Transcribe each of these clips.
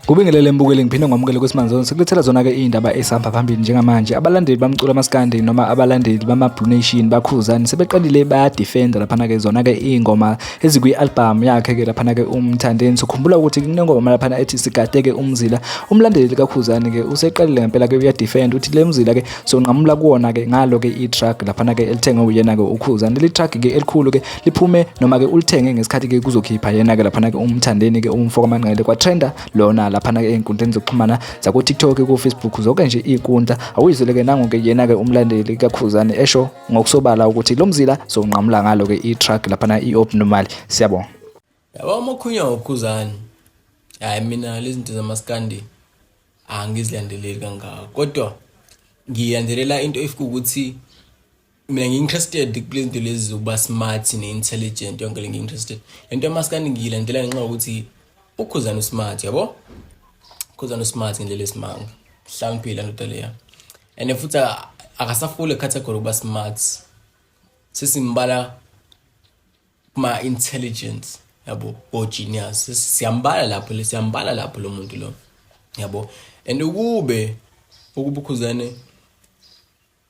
Kubingelele mbukeli ngiphinde ngomukele kwesimanje sonke sekulethela zona ke indaba esihamba phambili njengamanje abalandeli bamculo amaskandi noma abalandeli bama Blue Nation bakhuzani sebeqalile baya defender lapha na ke zona ke ingoma ezikwi-albhamu yakhe ke laphana ke umthandeni sokhumbula ukuthi kunengoma laphana ethi sigadeke umzila umlandeli likakhuzane ke useqalile ngempela ke uyadefend uthi le mzila ke sonqamula kuwona ke ngalo ke i-truck laphana ke elithengwe uyena ke ukhuzane le truck ke elikhulu ke liphume noma ke ulithenge ngesikhathi ke kuzokhipha yena ke laphana ke umthandeni ke umfoko amanqele kwatrenda lona laphana ke ey'nkundleni zokuxhumana zaku-tiktok ku-facebook zonke nje iy'nkundla awuyizwele ke nangu ke yena ke umlandeli kakhuzane esho ngokusobala ukuthi lo mzila sowunqamula ngalo-ke i-truck laphana i-obnormal siyabonga yaba umakhunya wokhuzane hhayi mina lezi zinto zamaskandi angizilandeleli kangako kodwa ngilandelela into efika ukuthi mina ngi-interested kule zinto lezi zokuba smart ne-intelligent yonke le ngi-interested le nto yamaskandi ngiyilandela ngenxa yokuthi ukhuzane usmart yabo ukhuzane usmart ngendlela esimanga hlawumphile andoda leya and futhi akasafuli category kuba smart sesimbala kuma intelligence yabo o genius siyambala lapho le siyambala lapho lo muntu lo yabo and ukube ukubukhuzane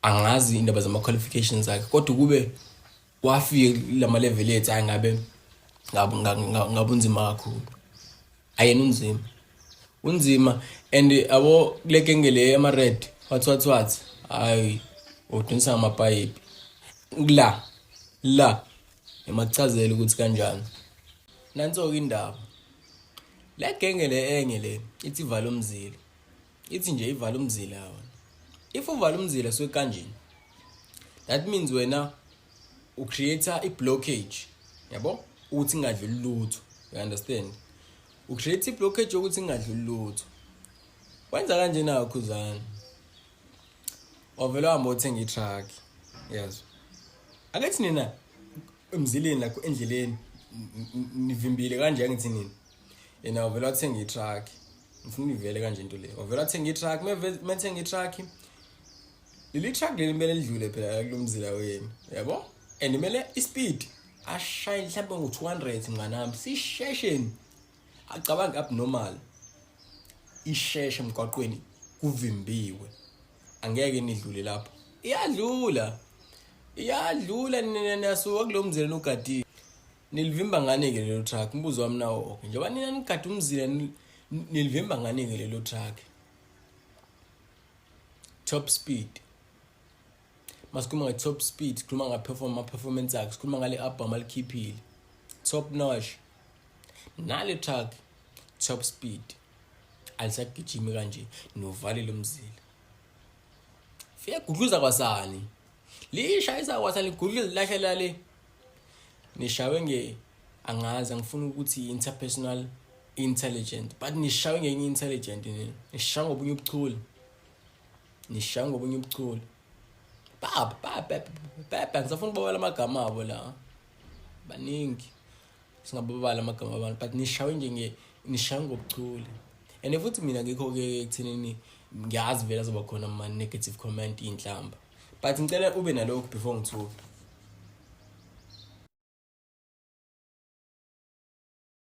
angazi indaba zama qualifications zakhe kodwa ukube wafika lama level ethu angabe ngabunzima kakhulu ayena unzima unzima and abo kule genge le yama-red wathi wathi wathi hayi udonisa ngamapayipi la la emakuchazela ukuthi kanjani nanso-ke indaba le genge le enye le ithi vala umzila ithi nje ivala umzila yona if uvala umzila suke kanjeni that means wena u create i blockage yabo ukuthi ingadluli lutho you understand u create i blockage yokuthi ingadluli lutho wenza kanje na khuzana wavela hamba uthenga i truck yes akethi nina emzileni like endleleni nivimbile kanje angithi nini yena uvela wathenga i-truck ngifuna ivele kanje into le wavela athenga i-truck methenga i-truck leli truck leli kumele lidlule phela kulo mzila wenu yabo and kumele i-speed ashaye mhlawumbe ngo-two hundred mnganami sishesheni acabange abnormal isheshe emgwaqweni kuvimbiwe angeke nidlule lapho iyadlula iyadlula nina niyasuka kulo mzila nogadile nilivimba ngani-ke lelo truck umbuzo wami nawo oke njengoba nina nigade umzila nilivimba ngani-ke lelo truck top speed masikhuluma nge-top speed sikhuluma ngama-performance akhe sikhuluma ngale album alikhiphile top notch nale truck top speed alisagijimi kanje novalile umzila fiyagudluza kwasani lishayisa kwasani ligudluza lilahlela le nishawe nge angazi angifuni ukuthi interpersonal intelligent but nishawe ngenye intelligent nini nishawe ngobunye ubuchule nishawe ngobunye ubuchule baba baba baba ngisafuna ukubawela amagama abo la baningi singababala amagama abantu but nishawe nje nishawe ngobuchule and futhi mina ngikho-ke ekuthenini ngiyazi vele azoba khona ama-negative comment iy'nhlamba but ngicela ube nalokhu before ngithuke